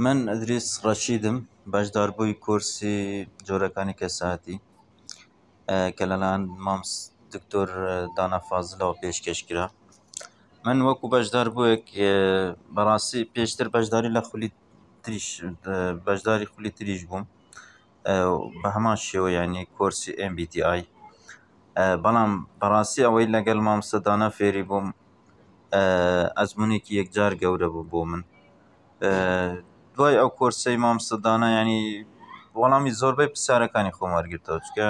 من ئەدریس ڕەشیدم، بەشداربووی کۆرسی جۆرەکانی کەسایەتی کە لەلایەن مام دکتۆر دانا فازڵەوە پێشکەش کرا. من وەکوو بەشداربووێک بەڕاستی پێشتر بەشداری لە خولی تریش بەشداری خولی تریش بووم. بە هەمان شێوە یانی کۆرسی MBTI بەڵام بەڕاستی ئەوەی لەگەڵ مامۆستا دانا فێری بووم ئەزمونێکی یەکجار گەورە بوو بۆ من دوای ئەو کۆرسەی مامۆستا دانا یانی وەڵامی زۆربەی پرسیارەکانی خۆم وەرگرتەوە چونکە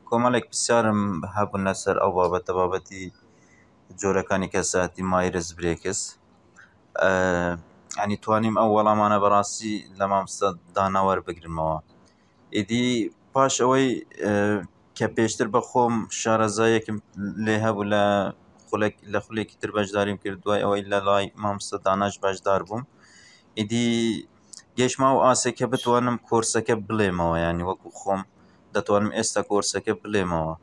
کۆمەڵێک پرسیارم هەبوون لەسەر ئەو بابەتە بابەتی جۆرەکانی کەسایەتی مایرس برێکس یانی توانیم ئەو وەڵامانە بەڕاستی لە مامۆستا دانا وەربگرمەوە ئیدی پاش ئەوەی کە پێشتر بە خۆم شارەزایەکم لێ هەبوو لە خولێک لە خولێکی تر بەشداریم کرد دوای ئەوەی لە لای مامۆستا داناش بەشدار بووم ئیدی گەشتمە ئەو ئاستەی کە بتوانم کۆرسەکە بڵێمەوە یانی وەکوو خۆم دەتوانم ئێستا کۆرسەکە بڵێمەوە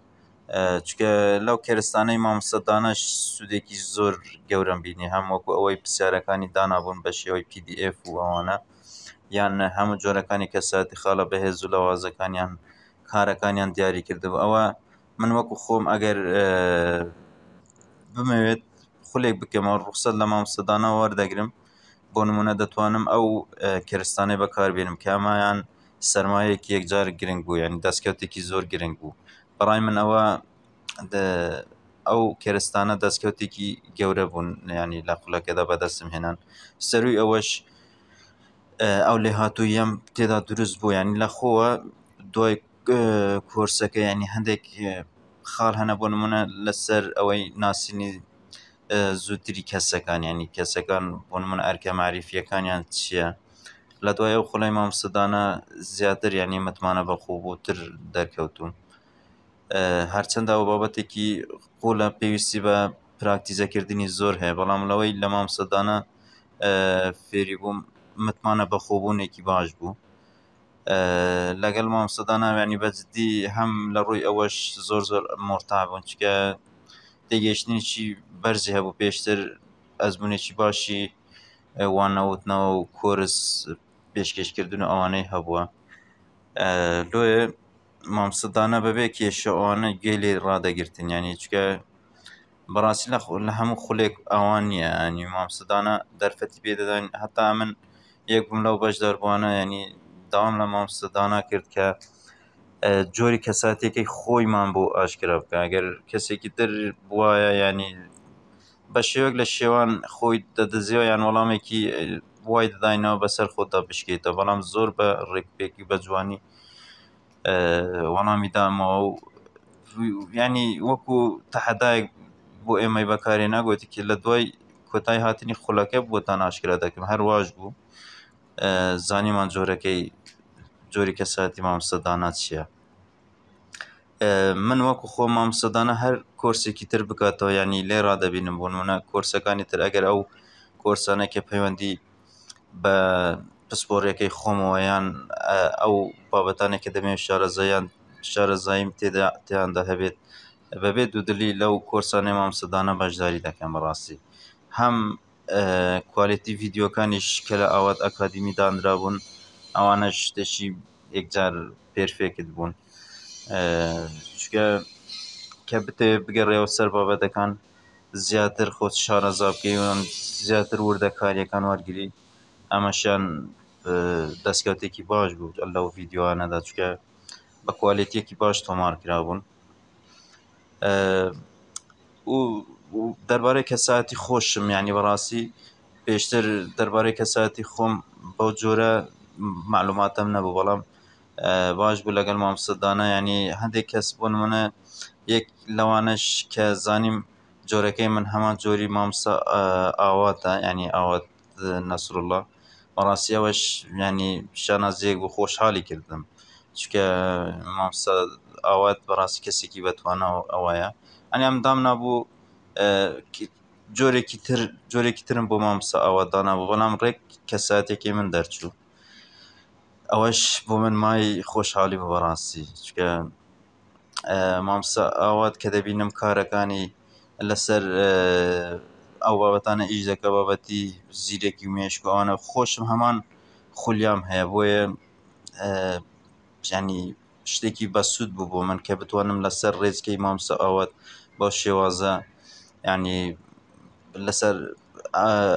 چکە لەو کێرستانەی مامسەدانەش سوودێکی زۆر گەورم بینی هەم وەکو ئەوەی پرسیارەکانی دانابوون بە شێوەی PDF و ئەوانە یان هەموو جۆرەکانی کەساتی خاڵە بەهێز و لەوازەکانیان کارەکانیان دیاری کردەوە ئەوە من وەکو خۆم ئەگەر بمەوێت خولێک بکەمەوە ڕوخسەر لە مامسەدانە وەردەگرم بۆ نمونە دەتوانم ئەو کەرستانەی بەکاربێنم کامایان سەرمایەیەکی یەکجار گرنگ بوو یانی دەستکەوتێکی زۆر گرنگ بوو بەڕای من ئەوە ئەو کێرستانە دەستکەوتێکی گەورە بوون ینی لە خولەکەدا بەدەستم هێنان سەروی ئەوەش ئەو لێ هاتوویەم تێدا دروست بوو ینی لە خۆوە دوای کۆرسەکە ینی هەندێک خاڵ هەنە بۆ نمونە لەسەر ئەوەی ناسینی زووتری کەسەکان ینی کەسەکان بۆ من ئەرکە معریفیەکانیان چییە؟ لە دوای ئەو خولەی مامۆستادانە زیاتر یعنی متمانە بە خۆ بۆتر دەرکەوتوم هەرچەندە ئەو بابەتێکی قۆلە پێویستی بە پراکتیزەکردنی زۆر هەیە بەڵام لەوەی لە مامۆستادانە فێری بووم متمانە بە خۆبوونێکی باش بوو لەگەڵ مامۆستاداناویانی بەجددی هەم لە ڕووی ئەوەش زۆر زۆر مۆرتا بوون چکە تێگەشتنیی بەرزی هەبوو پێشتر ئەزمونێکی باشی وان نەوتنەوە و کۆرس پێشکەشکردن و ئەوانەی هەبووە لۆیە مامسدانە بەبێ کێشەوانە گوێ لێ ڕدەگرتن ینی چکە بەڕاستی لە لە هەموو خولێک ئەوان نییە ئەنی مامسدانە دەرفەتی پێدەدەن هەتا من یەکم لەو بەش دەربووانە ینی داوام لە مامسدانە کرد کە جۆری کەساتێکی خۆیمان بۆ ئاشکرا بکە ئەگەر کەسێکی تر بواە ینی بە شێوەک لە شێوان خۆی دەدزێ یان وەڵامێکی وای دەداینەوە بەسەر خۆتا بشکێتە بەڵام زۆر بە ڕێکپێکی بە جوانی وەڵامی دامەوە و ینی وەکو تەحەدایەک بۆ ئێمەی بەکارێ ناگوتی کە لە دوای کۆتای هاتنی خولەکە بۆ تا ناشکرا دەکەم هەر واش بوو زانیمان جۆرەکەی جۆری کەساتی مامسەدانات چیە من وەکو خۆم مامۆستادانە هەر کۆرسێکی تر بکاتەوە یانی لێ ڕادەبینم بۆ نمونە کۆرسەکانی تر ئەگەر ئەو کۆرسانە کە پەیوەندی بە پسپۆڕیەکەی خۆمەوە یان ئەو بابەتانێک کە دەمەوێت شارەزایان شارەزاییم تێدا تێیاندا هەبێت بەبێ دوودلی لەو کۆرسانەی مامۆستادانە بەشداری دەکەم بەڕاستی هەم کوالێتی ڤیدیۆکانیش کە لە ئاوات ئەکادیمی دانرابوون ئەوانەش شتێکی یەکجار پێرفێکت بوون چکە کە بتەوێت بگەڕێەوە سەر بابەتەکان زیاتر خۆت شارەزا بکەیون زیاتر وردە کاریەکان وەرگری ئەمەشیان دەستکەوتێکی باش بوو لەو ڤیددیوانەدا چکە بە کوالێتیەکی باش تۆمار کرابوون و دەربارەی کەسایەتی خۆشم یانی بەڕاستی پێشتر دەربارەی کەسایەتی خۆم بەو جۆرە معلوماتم نەبوو بەڵام باش بوو لەگەڵ مامۆستا دانا یانی هەندێک کەس بۆ نمونە یەک لەوانەش کە زانیم جۆرەکەی من هەمان جۆری مامۆستا ئاواتە یانی ئاوات نەسروڵڵا بەڕاستی ئەوەش یانی شانازییەک بوو خۆشحاڵی کردم چونکە مامۆستا ئاوات بەڕاستی کەسێکی بەتوانا و ئەوەیە ئەنی ئەم دام نابوو جۆرێکی تر جۆرێکی ترم بۆ مامۆستا ئاوات دانابوو بەڵام ڕێک کەساتێکی من دەرچوو ئەوەش بۆ من مای خۆشحاڵی بوو بەڕاستی چونکە مامۆستا ئاوات کە دەبینم کارەکانی لەسەر ئەو بابەتانە ئیش دەکە بابەتی زیرەکی و مێشک و ئەوانە خۆشم هەمان خولیام هەیە بۆیە ینی شتێکی بەسوود بوو بۆ من کە بتوانم لەسەر ڕێچکەی مامۆستا ئاوات بەو شێوازە ینی لەسەر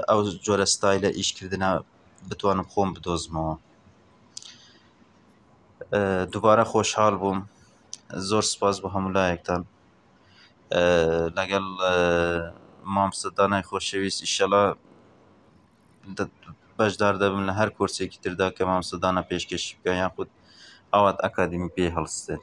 ئەو جۆرە ستایلە ئیشکردە بتوانم خۆم بدۆزمەوە. دووبارە خۆشحاڵ بووم زۆر سوپاس بۆ هەموو لایەکتان لەگەڵ مامۆستا دانای خۆشەویست ئیشەڵا بەشدار دەبم لە هەر کۆرسێکی تردا کە مامۆستا دانا پێشکەشی بکە یاخود ئاوات ئەکادمی پێ هەڵستێت